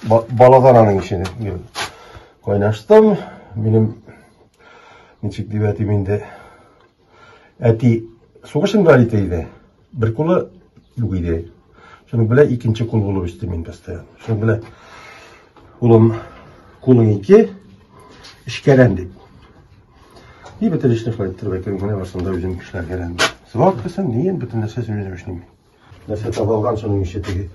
Баладан аның ишене мин кайнаштым. Минем ничек дип әйтим инде. Әти сугыш инвалиды иде. Бер кулы юк иде. Шуның белән икенче кул булып үсте мин постоянно. Шуның белән улым кулың ике эшкәрән дип. И бөтен эшне кылып торып әйтергә барсам да үзем эшләргә. Срок дисәм, ни инде бөтен нәрсә үзем эшлим. Нәрсә таба алган шуның ише теге.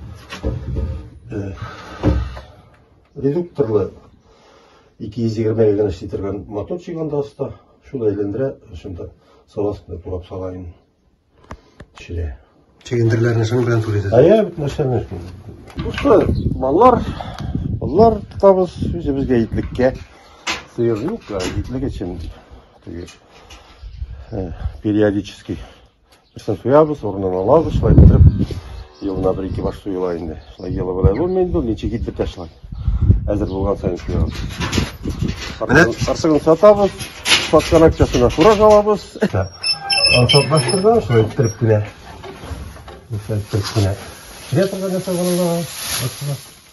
Редукторлы 220 га генә эшли торган моторчик анда оста. Шул әйләндерә, шунда сала астында турап сала инде. Төшерә. Чигендерләрне шуның белән түләтәсез. Ә я бит нәрсәне. Бусы маллар, маллар тотабыз үзебезгә итлеккә. Сыер юк, итлек өчен теге периодический Берсен суябыз, урынын алабыз, шулай иттереп, елына бер ике баш суела инде. Шулай елы белән булмый инде, ничек кит бетә шулай. Әзер булган сайын суябыз. Менә артыгын сатабыз, саткан акчасына фураж алабыз. Ансат баштырдан шулай иттереп кенә. Шулай иттереп кенә. Килә торган нәрсә булганда,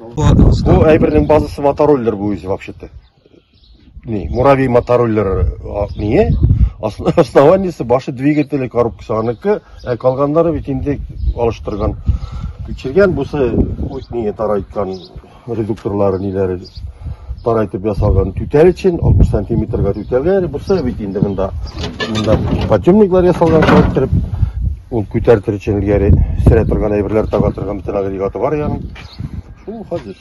Бу әйбернең базасы мотороллер бу үзе вообще-то. Ни, муравей мотороллер ние, основаниесе башы двигатели коробкасы аныкы, ә калганнары бит инде алыштырган. Күчергән бусы үз ние тарайткан редукторлары ниләре тарайтып ясалган түтәл өчен 60 сантиметрга түтәлгә, бусы бит инде монда монда подъемниклар ясалган, кереп Ул күтәртер өчен элгәре сөрә торган әйберләр таба торган бөтен агрегаты бар ягын. Шул хәзер.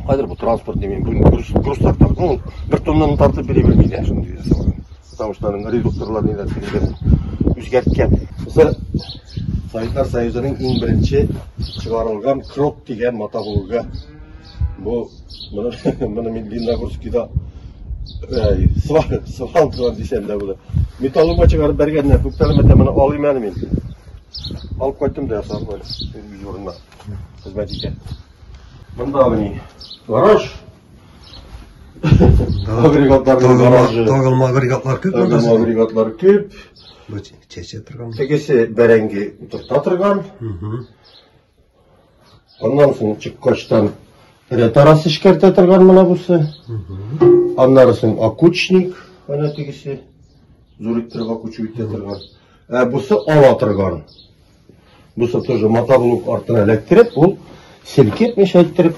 Хәзер бу транспорт димим, бу груз, груз тартар. Ну, бер тоннаны тартып бери белми дә шундый дә сораган. Потому что аның редукторлар ниләр тигән үзгәрткән. Мисал Советлар Союзының иң беренче чыгарылган крот дигән мата булуга Бу моны моны мин Лениногорскида э, свал свал дигән дисәндә булды. Металлома чыгарып бергәннәр, күптән мәтә моны алыйм әле мин. Алып кайттым да ясап бар. Юрына. Хезмәт итә. Монда мени. Гараж. Агрегатлар гаражы. Тагын агрегатлар күп. Тагын агрегатлар күп. Бу чәчә торган. Тегесе бәрәңге утырта торган. Угу. Аннан соң чыккачтан ретарас эшкәртә торган менә бусы. Аннары соң акучник, менә тегесе. Зур иттереп акучу итә торган. Ә бусы ала торган. Бусы тоже мотоблок артына эләктереп, ул селкетмичә иттереп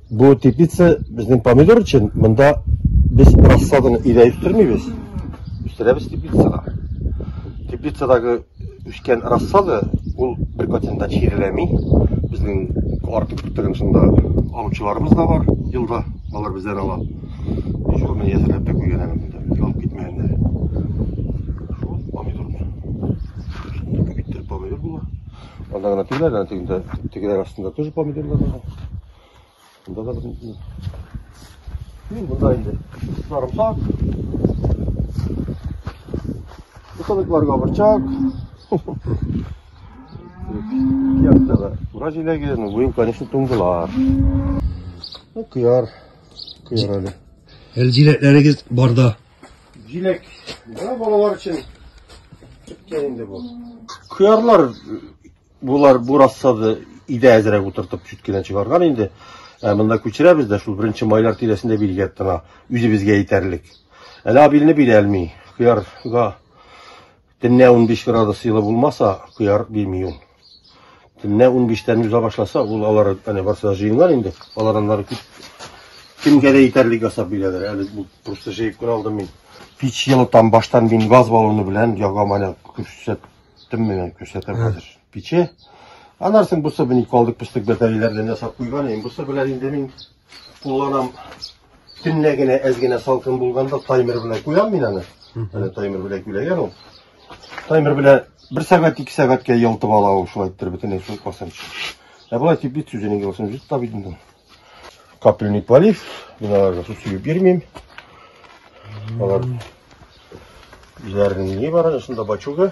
Бу теплица безнең помидор өчен. Монда без рассаданы өйдә үстермибез. Үстерәбез теплицада. Теплицадагы үскән рассада ул бер процентта чиреләми. Безнең артык бертеген шунда алучыларыбыз да бар. Елда алар бездән ала. Дежурный ясәләп тә куйган әле монда. Алып китмәгәннәр. Шул помидорны. Шунда бит помидор була. Анда гына түгел, әнә тегендә, тегеләр астында тоже помидорлар бар. Анда да бер... Ну, монда инде сарымсак. Бутылыкларга борчак. Якта да. Ура җиләге, ну, быел, конечно, туңдылар. Ну, кыяр, кыяр әле. Әлдиләтләрегез барда. Җиләк да балалар өчен беткән инде бу. Кыярлар булар бу рассады идә әзрәк утыртып чүткенә чыгарган инде. Ә монда күчерәбез дә шул беренче майлар тирәсендә билгәп тора. Үзебезгә итәрлек. Әле абилне бирә алмый. Кыярга Төнлә 15 градус җылы булмаса, куяр бирми ул. Төнлә 15-тән уза башласа, ул алар әнә барсы да җыеннар инде. Алар аннары кит. Кемгә дә итәрлек ясап бирәләр. Әле бу просто җыеп кына алдым мин. Пич җылытам баштан мин газ баллоны белән ягам әле күрсәттем менә күрсәтәм хәзер. Пиче. Анарсын бусы бин калдык пустык бәтәйләрдән ясап куйган. Ин бусы белән инде мин Кулланам төнлә генә әз генә салкын булганда таймер белән куям мин аны. Менә таймер белән күләгән ул. Таймер белән бер сәгать, ике сәгатькә ялтып ала ул шулай иттереп бөтенләй суык басам. Ә болай тип бит сүзенең юлсын җит тап идем. Капельный полив, мин аларга су сөеп бирмим. Алар үзләренең ни бар, шунда бачуга.